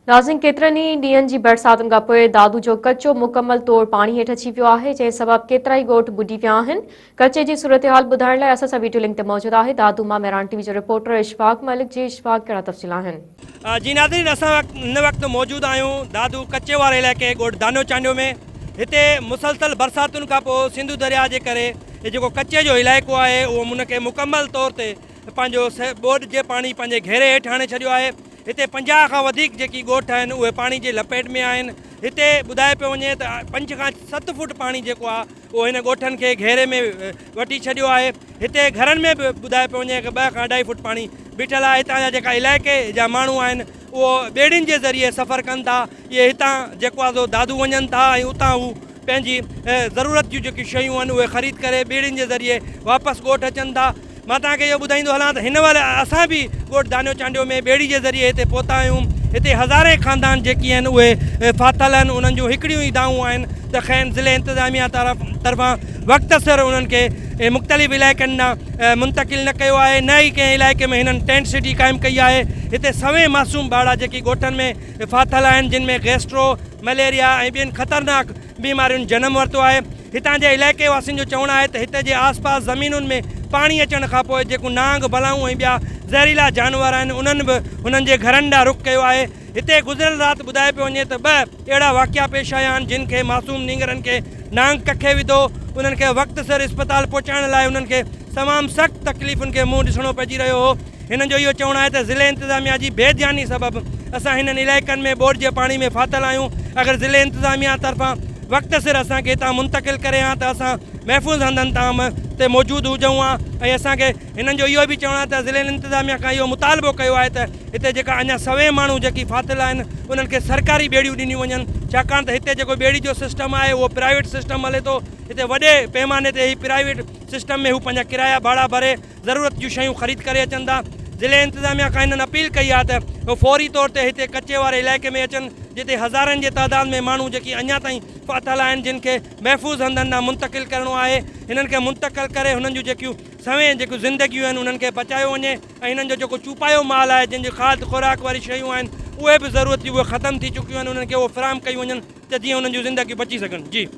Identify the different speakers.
Speaker 1: ناظرين ڪيترن ئي ڏينهن جي برساتن کان پوء دادو جو ڪچو مڪمل طور پاڻي هيٺ اچي ويو آهي جنهن سبب ڪيترائي ڳوٺ ٻڏي ويا آهن ڪچي جي صورتحال ٻڌائڻ لاء اسان سان ويڊيو لنڪ تي موجود آهي دادو مان مهراڻ ٽي وي جو رپورٽر اشفاق ملڪ جي اشفاق ڪهڙا تفصيل آهن جي ناظرين
Speaker 2: اسان هن وقت موجود آهيون دادو ڪچي واري علائقي ڳوٺ دانو چانڊيو ۾ هتي مسلسل برساتن کان پوء سنڌو درياء جي ڪري هي جيڪو ڪچي جو علائقو آهي اهو ان کي مڪمل طور تي پنهنجو ٻوڏ جي پاڻي پنهنجي گهيري هيٺ آڻي ڇڏيو آهي هتي پنجاهه کان وڌيڪ جيڪي ڳوٺ آهن اهي پاڻي جي لپيٽ ۾ آهن هتي ٻڌايو پيو وڃي ته پنج کان ست فوٽ پاڻي جيڪو آهي اهو هن ڳوٺن کي گهيري ۾ وٺي ڇڏيو آهي هتي گهرن ۾ به ٻڌايو پيو وڃي ته ٻه کان اڍائي فوٽ پاڻي بيٺل آهي هتان جا جيڪا علائقي جا ماڻهو آهن اهو ٻيڙين جي ذريعي سفر ڪن ٿا اهي هتان جيڪو آهي سو دادو وڃن ٿا ۽ اتان هو پنهنجي ضرورت جون جيڪي شيون آهن اهي خريد ڪري ٻيڙين جي ذريعي واپس ڳوٺ اچن ٿا مان توهان کي اهو ٻڌائيندو هلان ته هن مهل اسان به ڳوٺ دانيو چانڊيو ۾ ٻيڙي جي ذريعي هتي پهتا آهيون. هتي هزارين خاندان جيڪي آهن اهي ڦاٿل آهن. انهن جون هڪڙيون ئي دانهون آهن ته کين ضلعي انتظاميه طرفان وقت سر انهن کي مختلف علائقن ڏانهن منتقل نه ڪيو آهي نه ئي ڪنهن علائقي ۾ هنن ٽينٽ سٽي قائم ڪئي آهي. هتي سوين معصوم ٻارڙا جيڪي ڳوٺن ۾ ڦاٿل آهن جن ۾ گيسٽرو، مليريا ۽ ٻين خطرناڪ بيمارين جنم ورتو آهي هتان جي علائقي واسين جو چوڻ آهي ته هتي جي آس پاس زمينن ۾ پاڻي اچڻ کان پوء جيڪون نانگ بلائون ۽ ٻيا زهريلا جانور آهن انهن به هنن جي گهرن ڏانهن رخ ڪيو آهي هتي گذريل رات ٻڌايو پيو وڃي ته ٻه اهڙا واقعا پيش آيا آهن جن کي معصوم نينگرن کي نانگ ڪکي وڌو انهن کي وقت سر اسپتال پهچائڻ لاء انهن کي تمام سخت تڪليفن کي منهن ڏسڻو پئجي رهيو هو. هنن جو اهو چوڻ آهي ته ضلعي انتظاميا جي بي ڌياني سبب اسان هنن علائقن ۾ ٻوڏ جي پاڻي ۾ ڦاٿل آهيون اگر ضلعي انتظاميا طرفان وقت سر اسان کي هتان منتقل ڪري ها ته اسان محفوظ هنڌن تام تي موجود هجون ها ۽ اسان کي هنن جو اهو به چوڻ آهي ته ضلعي انتظاميا کان اهو مطالبو ڪيو آهي ته هتي جيڪا اڃا سوين ماڻهو جيڪي ڦاٿل آهن انهن کي سرڪاري ٻيڙيون ڏنيون وڃن ڇاڪاڻ ته هتي جيڪو ٻيڙي جو سسٽم آهي اهو پرائيويٽ سسٽم هلي ٿو هتي وڏي پيماني تي هي پرائيويٽ سسٽم ۾ هو پنهنجا ڪرايا ڀاڙا ڀري ضرورت جون شيون خريد ڪري اچن ٿا ضلعي انتظاميا کان هنن اپيل ڪئي آهي ته هو فوري طور تي هتي ڪچي واري علائقي ۾ اچن جتي هزارن جي تعداد ۾ ماڻهو جيڪي اڃا تائين ڦاٿل آهن جن کي محفوظ هنڌن ڏانهن منتقل ڪرڻو آهي هنن کي منتقل ڪري هنن جون جيڪيون سوين جيڪيون زندگيون آهن انهن کي بچايو وڃي ۽ هنن جو جيڪو چوپايو مال آهي جن جي کاڌ خوراڪ واري شيون آهن اهي به ضرورت جون اهي ختم ٿي چڪيون آهن انهن کي اهي فراهم ڪيون وڃن ته جيئن انهن جون زندگيون بچي سگهن جي.